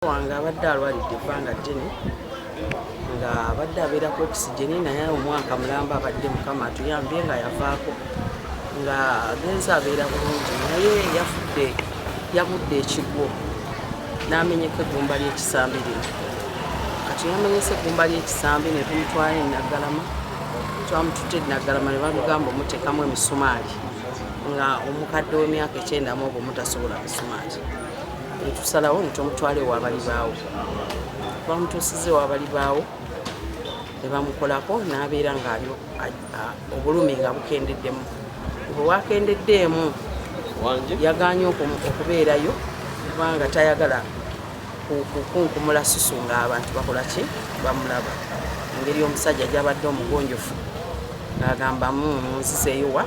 wange abadde alwalidde ebbanga ddene nga abadde abeerako okisijeni naye omwaka mulamba abadde mukama atuyambye nga yavaako nga agenza abeera bulungi naye yafudde yagudde ekigwo n'amenyeka eggumba ly'ekisambi lino kati yamenyesa eggumba ly'ekisambi ne tumutwala enaggalama twamutute enaggalama ne bamugamba omuteekamu emisumaali nga omukadde w'emyaka ekyenda mu obwo mutasobola misumaali netusalawo netumutwala ewabali baawo bamutuusiza ewabali baawo nebamukolako nabeera nga obulumi nga bukendeddemu bwewakendeddeemu yaganye okubeerayo kubanga tayagala kukunkumula susu nga abantu bakolaki bamulaba engeri omusajja gyabadde omugonjofu ng'agamba munzizeeyo wa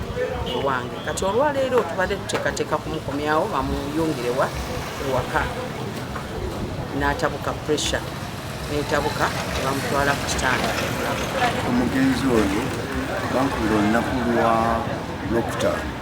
ewange kati olwaleero tubadde tuteekateeka kumukomyawo bamuyungirewa ewaka n'atabuka pressure netabuka bamutwala ku kitanda omugenzi oyo bankubira olunaku lwa lwokutaano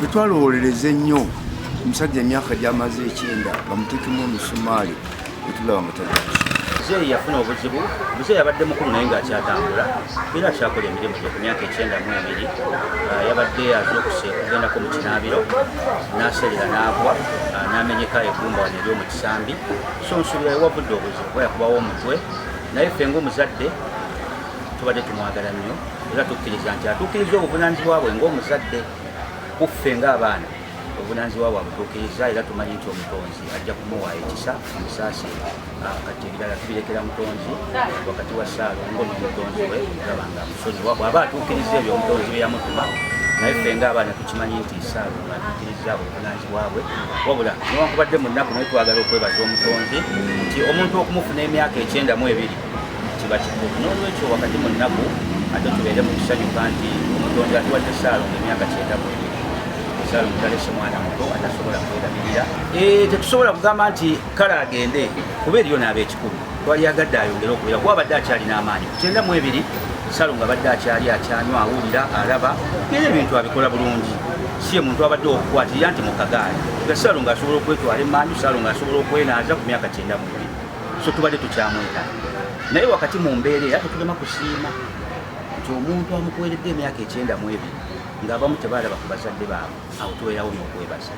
Tetwalowolereza ennyo omusajja emyaka gy'amaze ekyenda bamutekemu omusumaali etulaba mutagaki muzeeyi yafuna obuzibu muzeeyi abadde mukulu naye ng'akyatambula era akyakola emirimu gye ku myaka ekyenda mu ebiri ah, yabadde azuukuse okugendako mu kinaabiro n'aserera n'agwa ah, n'amenyeka egumba wano eri omukisambi so nsubira ewavudde obuzibu bwe yakubawo omutwe naye ffe ng'omuzadde tubadde tumwagala nnyo era tukkiriza nti atuukiriza obuvunaanyizibwa bwe ng'omuzadde kuffe ng'abaana obuvunaanyizibwa bwe abutuukiriza era tumanyi nti omutonzi ajja kumuwa ekisa omusaasi ah, kati ebirala tubirekera mutonzi wakati wa saalongo n'omutonzi we olaba nga musozi bw'aba atuukiriza ebyo omutonzi bye yamutuma naye ffe ng'abaana tukimanyi nti saalongo atuukiriza obuvunaanyizibwa bwe wabula newankubadde mu nnaku naye twagala okwebaza omutonzi nti omuntu okumufuna emyaka ekyenda mu ebiri kiba kikulu n'olwekyo wakati mu nnaku ate tubeere mu kusanyuka nti omutonzi atuwadde saalongo emyaka kyenda mu ebiri saalongo talese mwana muto atasobola kwerabirira eh, tetusobola kugamba nti kale agende kuba eriyo naaba ekikulu twali agadde ayongere okubeera kuba abadde akyalina amaanyi ku kyenda mu ebiri saalongo abadde akyali akyanywa awulira alaba era ebintu abikola bulungi siye muntu abadde okukwatirira nti mukagaali nga saalongo asobola okwetwala emanju saalongo asobola okwenaaza ku myaka kyenda mu ebiri so tubadde tukyamweta naye wakati mu mbeera era tetulema kusiima nti omuntu amukuweredde emyaka ekyenda mu ebiri ng'abamu tebaalaba ku bazadde baabwe awo tubeerawo n'okwebaza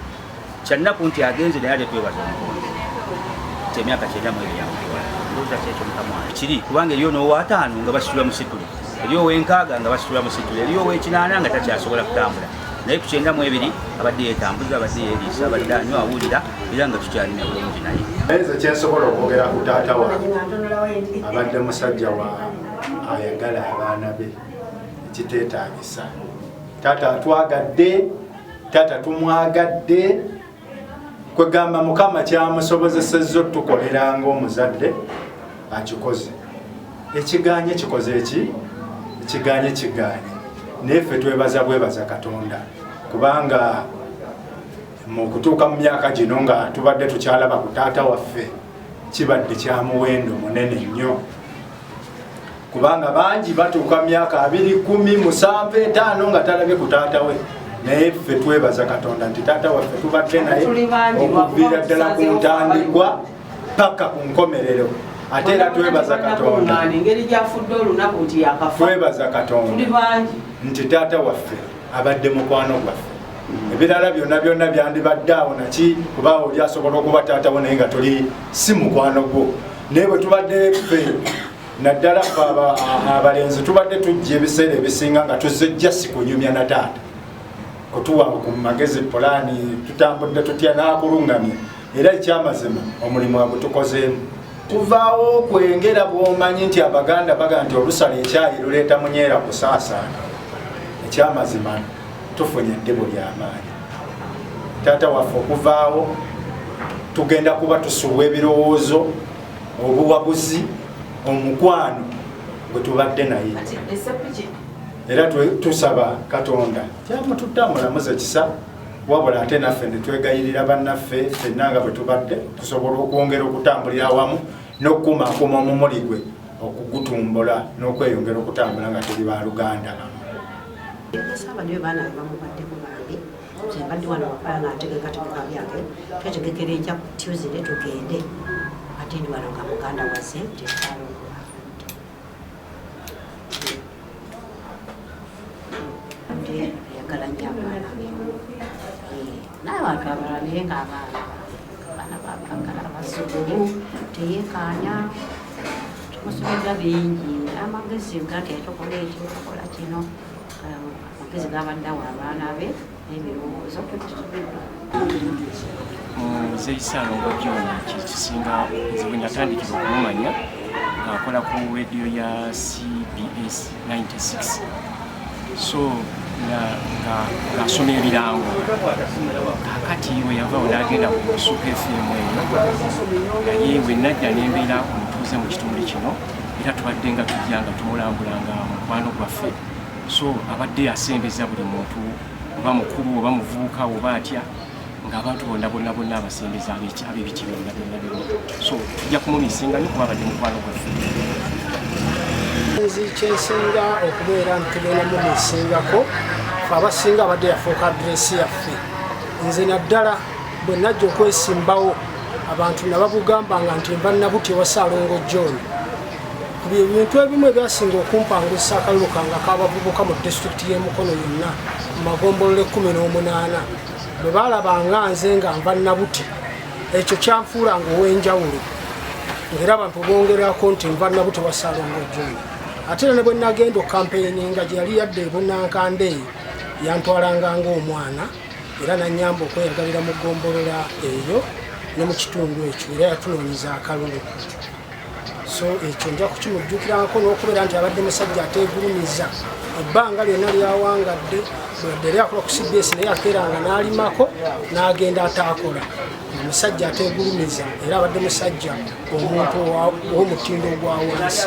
kyannaku nti agenze naye ate twebaza omukonzi nti emyaka kyenda mu ebiri yamukiwala ndowooza kyekyo mukamwana kiri kubanga eriyo n'owataano nga basitula musitule eriyo ow'enkaaga nga basitula musitule eriyo ow'ekinaana nga takyasobola kutambula naye ku kyenda mu ebiri abadde yeetambuza abadde yeeriisa abadde anywa awulira era nga tukyalina bulungi naye naye nze kyensobola okwogera ku taata wange abadde musajja wa ayagala abaana be ekiteetaagisa taata atwagadde taata tumwagadde kwegamba mukama kyamusobozesezza otukolera ngaomuzadde akikoze ekiganye kikoze eki ekiganye kiganye naye ffe twebaza bwebaza katonda kubanga mu kutuuka mu myaka gino nga tubadde tukyalaba ku taata waffe kibadde kya muwendo munene nnyo kubanga bangi batuuka myaka abiri kumi musanvu etaano nga talabye ku taata we naye ffe twebaza katonda nti taata waffe tubadde naye okuviira ddala ku ntandikwa paka ku nkomerero ate era twebaza katonda twebaza katonda nti taata waffe abadde mukwano gwaffe ebirala byonna byonna byandibadde awo naki kuba oli asobola okuba taatawo naye nga toli si mukwano gwo naye bwe tubadde ffe naddala fe abalenzi tubadde tujja ebiseera ebisinga nga tuzejja sikunyumya na taata kutuwa ku magezi pulaani tutambudde tutya n'akulungamya era ekyamazima omulimu agutukozeemu kuvaawo okwengera bwomanyi nti abaganda baga nti olusala ekyayi luleeta munyeera kusaasaana ekyamazima tufunye eddibu lyamaanyi taata waffe okuvaawo tugenda kuba tusubwa ebirowoozo obuwabuzi omukwano gwetubadde naye era tusaba katonda kyamututte amulamuze kisa wabula ate naffe netwegayirira bannaffe fenna nga bwe tubadde tusobola okwongera okutambulira awamu n'okukumaakuma omumuli gwe okugutumbula n'okweyongera okutambula nga tuli ba luganda mbadde wano wakala nga ntegekategeka byange twetegekera enkya ku tuesday tugende ate ndi wano nga muganda wazze tekyalo n'abantu abalala naye ng'abaana abaana babagala abasukulu teyekaanya tumusomedwa bingi amagezi gati etokola ekyo tokola kino amagezi gabadde awo abaana be nze isaalongo byona kyekisinga nze bwe natandikira okumumanya ng'akola ku rediyo ya cbs 96 so ng'asoma ebirango kakati we yavawo n'agenda ku musuka efirimu eyo naye we najja n'embeera omutuuze mu kitundu kino era tubadde nga tujja nga tumulambula nga mukwano gwaffe so abadde asembeza buli muntu oba mukulu oba muvubuka oba atya ngaabantu bonna bonna bonna abasembeza abebiti byonna byonna byonna so tujja kumumisinga nyo kuba abadde mukwano gwaffe nzi kyensinga okubeera ntugenda mumisingako abasinga abadde yafuuka adresi yaffe nze naddala bwe najja okwesimbawo abantu nabakugambanga nti mba nabuti ewa saalongo john bye bintu ebimu ebyasinga okumpangusa akalulu kange ak'abavubuka mu disitulikiti y'e mukono yonna mu magombolola ekkumi n'omunaana bwe baalabanga nze nga nva nabuti ekyo kyanfuulanga ow'enjawulo ngaera abantu bongerako nti nva nabuti wasalonga ojjoni ate era ne bwe nagenda okampeyini nga gye yali yadde ebunankanda eyo yantwalanga ngaomwana era nanyamba okweyagalira mu gombolola eyo ne mu kitundu ekyo era yatunoonyeza akalulu so ekyo nja kukimujjukirako n'okubeera nti abadde musajja ateegulumiza ebbanga lyonna lyawangadde bwedde lyakola ku cbs naye akeeranga n'alimako n'agenda ataakola omusajja ateegulumiza era abadde musajja omuntu w'omutindo ogwa wansi